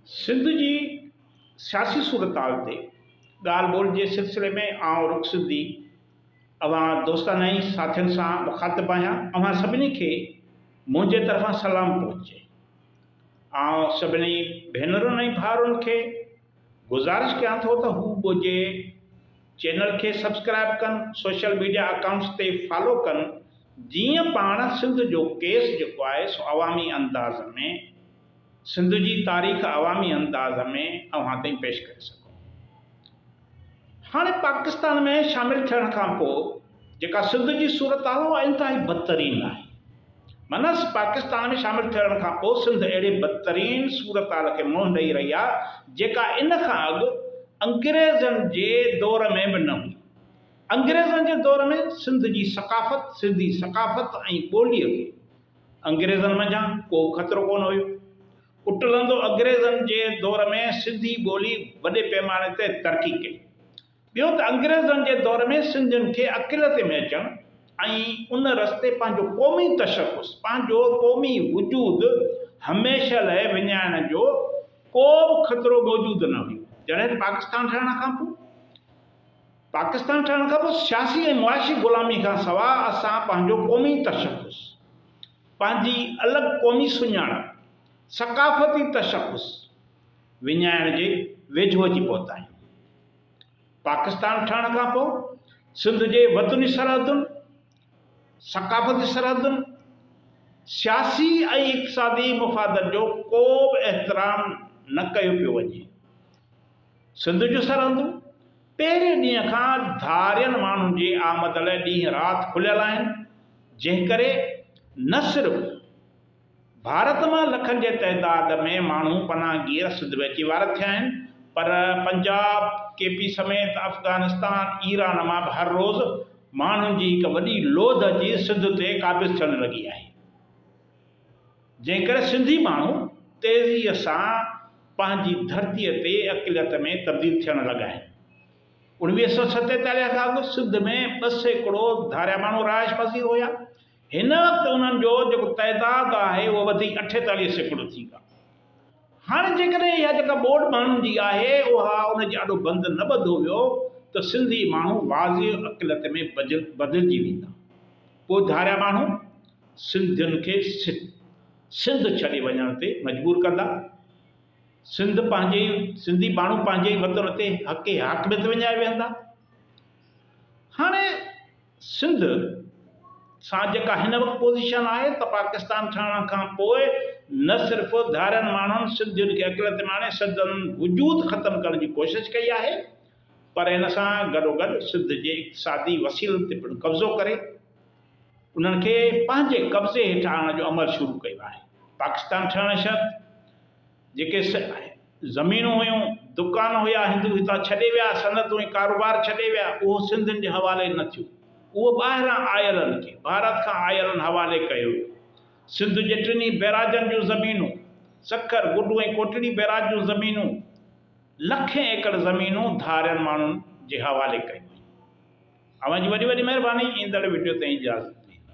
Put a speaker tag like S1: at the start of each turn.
S1: سنڌ جي سياسي صورتحال تي ڳالهه ٻولهه جي سلسلي ۾ آئون رخ سنڌي اوهان دوستانائي ساٿين سان مخاطب آهيان اوهان سڀني کي منهنجي طرفان سلام پهچي آئون سڀني ڀينرن ۽ ڀائرن کي گذارش ڪيان ٿو ته هو ٻوجهي چينل کي سبسڪرائيب ڪن سوشل ميڊيا اڪائونٽس تي فالو ڪن جيئن پاڻ سنڌ جو ڪيس جيڪو آهي سو عوامي انداز ۾ سنڌ جي تاريخ عوامي انداز ۾ اوهان تائين پيش ڪري سگهون هاڻي پاڪستان ۾ شامل ٿيڻ کان پوء جيڪا سنڌ جي صورتحال اها انتهائي بدترين آهي. منس پاڪستان ۾ شامل ٿيڻ کان پوء سنڌ اهڙي بدترين صورتحال کي منهن ڏئي رهي آهي جيڪا ان کان اڳ انگريزن جي دور ۾ به نه هئي. انگريزن جي دور ۾ سنڌ جي ثقافت، سنڌي ثقافت ۽ ٻوليء کي انگريزن منجهان ڪو به خطرو ڪونه هيو. اٽلندو انگريزن جي دور ۾ سنڌي ٻولي وڏي پيماني تي ترقي ڪئي. ٻيو ته انگريزن جي دور ۾ سنڌين کي اڪيلتي ۾ اچڻ ۽ ان رستي پنهنجو قومي تشخص، پنهنجو قومي وجود هميشه لاء وڃائڻ جو ڪو به خطرو موجود نه هيو. جڏهن ته پاڪستان ٺهڻ کان پوء پاڪستان ٺهڻ کان پوء سياسي ۽ معاشي غلامي کان سواء اسان پنهنجو قومي تشخص، پنهنجي الڳ قومي سڃاڻپ، ثقافتي تشخص وڃائڻ جي ويجهو اچي پهتا آهيون. پاڪستان ٺهڻ کان پوء سنڌ جي وطني سرحدن، ثقافتي سرحدن، سياسي ۽ اقتصادي مفادن جو ڪو به احترام نه ڪيو پيو وڃي. سنڌ جون سرحدون پهرين ڏينهن کان ڌارين ماڻهن جي آمد لاء ڏينهن رات کليل آهن، جنهن ڪري نه صرف. ڀارت مان لکن جي تعداد ۾ ماڻهو پناهگير سنڌ ۾ اچي وارد ٿيا آهن پر پنجاب، ڪي پي سميت افغانستان، ايران مان به هر روز ماڻهن جي هڪ وڏي لوڌ اچي سنڌ تي قابض ٿيڻ لڳي آهي. جنهن ڪري سنڌي ماڻهو تيزي سان پنهنجي ڌرتي تي اقليت ۾ تبديل ٿيڻ لڳا آهن. اوڻويهه سئو ستيتاليهه کان اڳ سنڌ ۾ ٻه سيڪڙو ڌاريا ماڻهو رهائش پذير هيا. هن وقت انهن جو جيڪو تعداد آهي اهو وڌي اٺيتاليهه سيڪڙو ٿي ويو آهي. هاڻي جيڪڏهن اها جيڪا ٻوڏ ماڻهن جي آهي اها ان جي آڏو بند نه ٻڌو ويو ته سنڌي ماڻهو واضح اقليت ۾ بدلجي ويندا. پوء ڌاريا ماڻهو سنڌين کي سنڌ ڇڏي وڃڻ تي مجبور ڪندا. سنڌ پنهنجي ئي سنڌي ماڻهو پنهنجي ئي وطن تي حق حاڪميت وڃائي ويهندا. هاڻي سنڌ سان جيڪا هن وقت پوزيشن آهي ته پاڪستان ٺهڻ کان پوء نه صرف ڌارين ماڻهن سنڌين کي اقليت ماڻي سندن وجود ختم ڪرڻ جي ڪوشش ڪئي آهي پر ان سان گڏوگڏ سنڌ جي اقتصادي وسيلن تي پڻ قبضو ڪري انهن کي پنهنجي قبضي هيٺ آڻڻ جو عمل شروع ڪيو آهي پاڪستان ٺهڻ شرط جيڪي زمينون هيون، دڪان هيا، هندو هتان ڇڏي ويا، صنعتون ۽ ڪاروبار ڇڏي ويا، اهو سنڌين جي حوالي نه ٿيو. اهو ٻاهران آيلن کي، ڀارت کان آيلن حوالي ڪيو ويو. سنڌ جي ٽنهي بئراجن جون زمينون، سکر، گڊو ۽ ڪوٽڙي بئراج جون زمينون، لکين ايڪڙ زمينون ڌارين ماڻهن جي حوالي ڪيون ويون. اوهان جي وڏي وڏي مهرباني. ايندڙ وڊيو تائين اجازت ڏيندا.